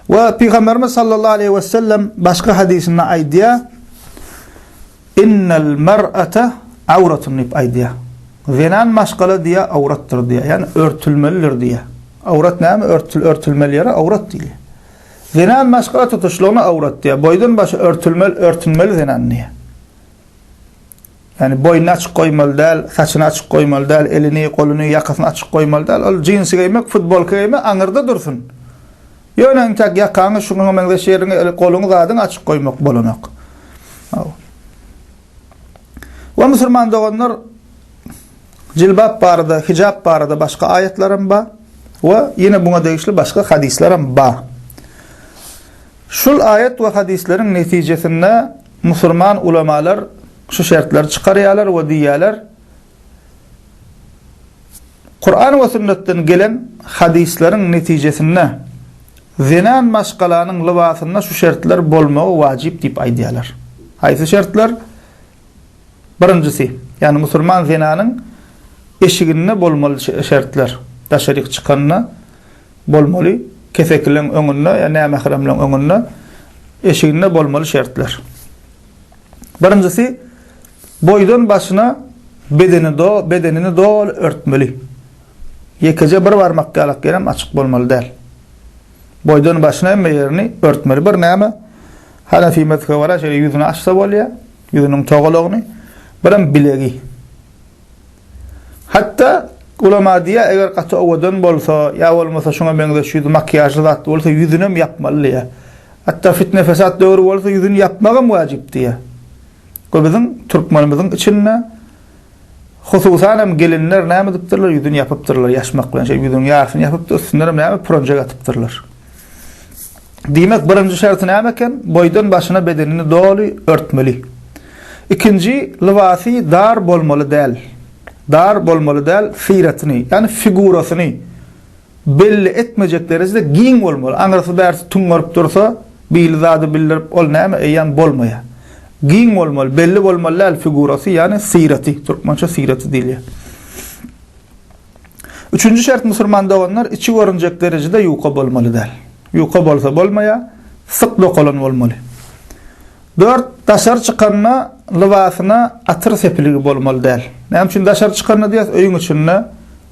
We Pygamberimiz sallallahu aleyhi ve sellem başga hadisinde aýdýar, Innel mer'ate awratun diýip aýdýar. Zenan maşgala diýä awratdyr diýä, ýani örtülmelidir diýä. Awrat näme? Örtül örtülmeli ýere awrat diýilýär. Zenan maşgala tutuşlygyna awrat diýä. Boýdan başy örtülmeli, örtünmeli zenan diýä. Ýagny boýnuny açyk goýmaly däl, saçyny açyk goýmaly däl, elini, goluny, ýakasyny açyk goýmaly däl. Ol jinsi geýmek, futbolka geýmek aňyrda dursun. Ýöne intäk ýakaňy, şuňa meňzeş ýeriňi, goluňy, zadyňy açyk goýmak bolanok. We musulman doganlar jilbap barada, hijap barada başga aýatlar hem bar we ýene buňa degişli başga hadyslar hem bar. Şul aýat we hadyslaryň netijesinde Musurman ulamalar şu şertleri çykarýarlar we diýýärler, Kuran we sünnetden gelen hadysleriň netijesinde zenan maşgalanyň lybasynda şu şertler bolmagy wajyp diýip aýdýarlar. Haýsy şertler? Birinjisi, ýagny musurman zenanyň eşiginde bolmaly şertler, daşaryk çykanda Bolmaly, kesekileň öňünde ýa nämähremleň öňünde, eşiginde bolmaly şertler. Birinjisi, boýdan başyna bedeni do, bedenini doly örtmeli. Ýekeje bir barmak ýalak ýerem açyk bolmaly däl. Boýdan başyna hemme ýerini örtmeli. Bir näme? Hanefi mezhebe görä şeýle ýüzüni açsa bolýar, ýüzüniň togalagyny, birem bilegi. Hatda ulama diýýär, eger gaty owadan bolsa, ýa bolmasa şuňa meňzeş ýüzi makiýažly zatly bolsa, ýüzünem ýapmaly diýýär. Hatda fitne-fesat döwri bolsa, ýüzüni ýapmagam wajyp diýýär. Bu biziň türkmenimiziň içinde, hususanam gelinler näme edipdirler, ýüzüni ýapypdyrlar, ýaşmak bilen şeýdip ýüzüniň ýarysyny ýapypdyr, üstündenem näme, pürenjek atypdyrlar. Diýmek, birinji şerti näme eken? Boýdan başyna bedenini doly örtmeli. Ikinji, lybasy dar bolmaly däl. Dar bolmaly däl, syratyny, ýagny figurasyny belli etmejek derejede giň bolmaly. Aňyrsy bärsi tuňňaryp dursa, bili zady bildirip, ol näme eýýäm bolmaýar. Giň bolmaly, belli bolmaly däl figuraty, ýagny syraty, türkmençe syraty diýilýär. Üçünji şert musurman doganlar içi görünjek derejede ýuka bolmaly däl. Ýuka bolsa bolmaýa, syk dokalan bolmaly. Dört, daşary çykanda lybasyna atyr sepiligi bolmaly däl. Näme üçin daşary çykanda diýýäs, öýüň içinde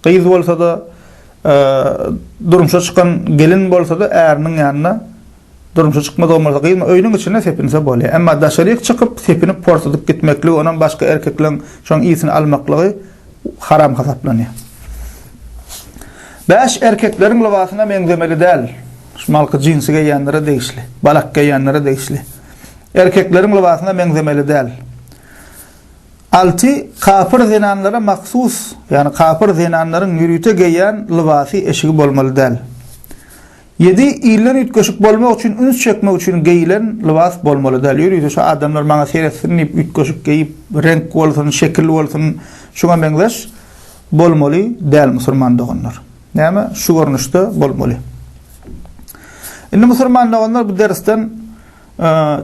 gyz bolsada, durmuşa çykan gelin bolsada äriniň ýanyna Durmuşa çykmaz ogmurda gyzma, öýüniň içinde sepinse bolýar. Emma daşaryk çykyp, sepinip porsadyp gitmekligi, onam başga erkekleň şoň ysini almaklygy haram hasaplanýar. Bäş erkekleriň lybasyna meňzemeli däl. Şumalky jinsi geýýänlere degişli, balak geýýänlere degişli. Erkekleriň lybasyna meňzemeli däl. Alty kapyr zenanlara mahsus, ýagny kapyr zenanlaryň ýörite geýýän lybasy eşigi bolmaly däl. Ýedi ilden üýtgeşik bolmak üçin üns çekmek üçin geýilen lybas bolmaly däl. Ýörite şu adamlar maňa seretsin diýip üýtgeşik geýip, reňk bolsun, şekil bolsun, şuňa meňzeş bolmaly däl musulman doganlar. Näme? Şu görnüşde bolmaly. Indi musulman doganlar bu dersden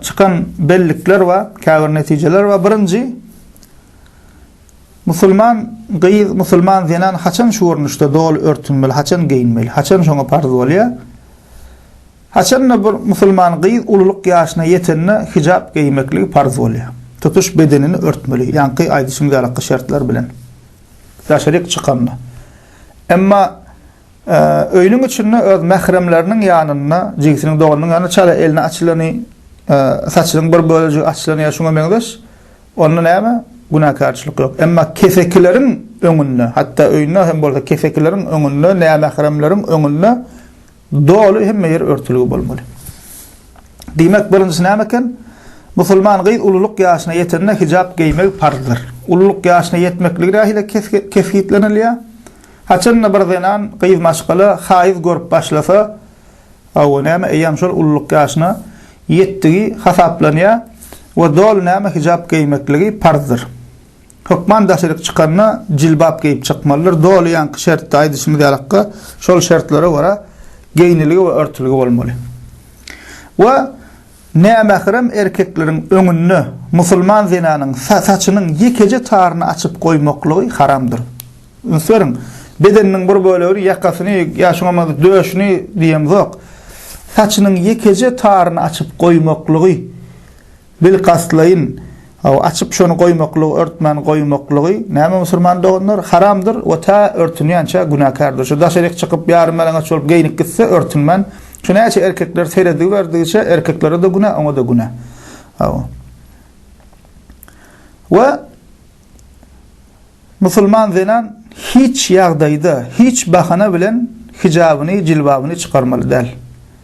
çykan bellikler we käbir netijeler we birinji Musulman gyz, musulman zenan haçan şu görnüşde doly örtünmeli, haçan geýinmeli, haçan şoňa parz bolýar? Haçan-da bir musulman gyz ululyk ýaşyna ýetende hijap geýmekligi parz bolýar. Tutuş bedenini örtmeli, ýaňky aýdyşym ýalyky şertler bilen. Daşaryk çykanda. Emma öýüniň içinde öz mähremleriniň ýanynda, jigisiniň doganynyň ýanynda çala elini açylany, saçynyň bir bölejigi açylany ýa şuňa meňzeş Onda näme? Günäkärçilik ýok. Emma kesekileriň öňünde, hatda öýünde hem bolsa kesekileriň öňünde, nämähremleriň öňünde doly hemme ýer örtülgi bolmaly. Diýmek, birinjisi näme eken? Musulman gyz ululyk ýaşyna ýetende hijap geýmegi parzdyr. Ululyk ýaşyna ýetmekligi nähili kesgitlenilýär? Haçanda bir zenan, gyz maşgala haýyz görüp başlasa, Hawa, näme eýýäm şol ulluk ýaşyna ýetdigi hasaplanýar we doly näme hijap geýmekligi parzdyr. Hökman daşaryk çykanda jilbap geýip çykmalydyr, doly ýaňky şertde aýdyşymyz ýalykka şol şertlere görä geýniligi we örtüligi bolmaly. We nämährem erkekleriň öňünde musulman zenanyň saçynyň ýekeje taryny açyp goýmaklygy haramdyr. Üns beriň, bedeniniň bir bölegini, ýakasyny ýa şuňa meňzeş döşüni diýemzok, saçynyň ýekeje taryny açyp goýmaklygy, bilkastlaýyn, hawa, açyp şony goýmaklygy, örtmän goýmaklygy, näme musulman doganlar, haramdyr we tä örtünýänçä günäkärdir. Şu daşaryk çykyp, ýarym-ýalaňaç bolup geýnip gitse, örtünmän, şu näçe erkekler serediberidigiçe, erkeklere-de günä, oňa-da günä. Hawa. We Musulman zenan hiç ýagdaýda, hiç bahana bilen hijabyny, jilbabyny çykarmaly däl.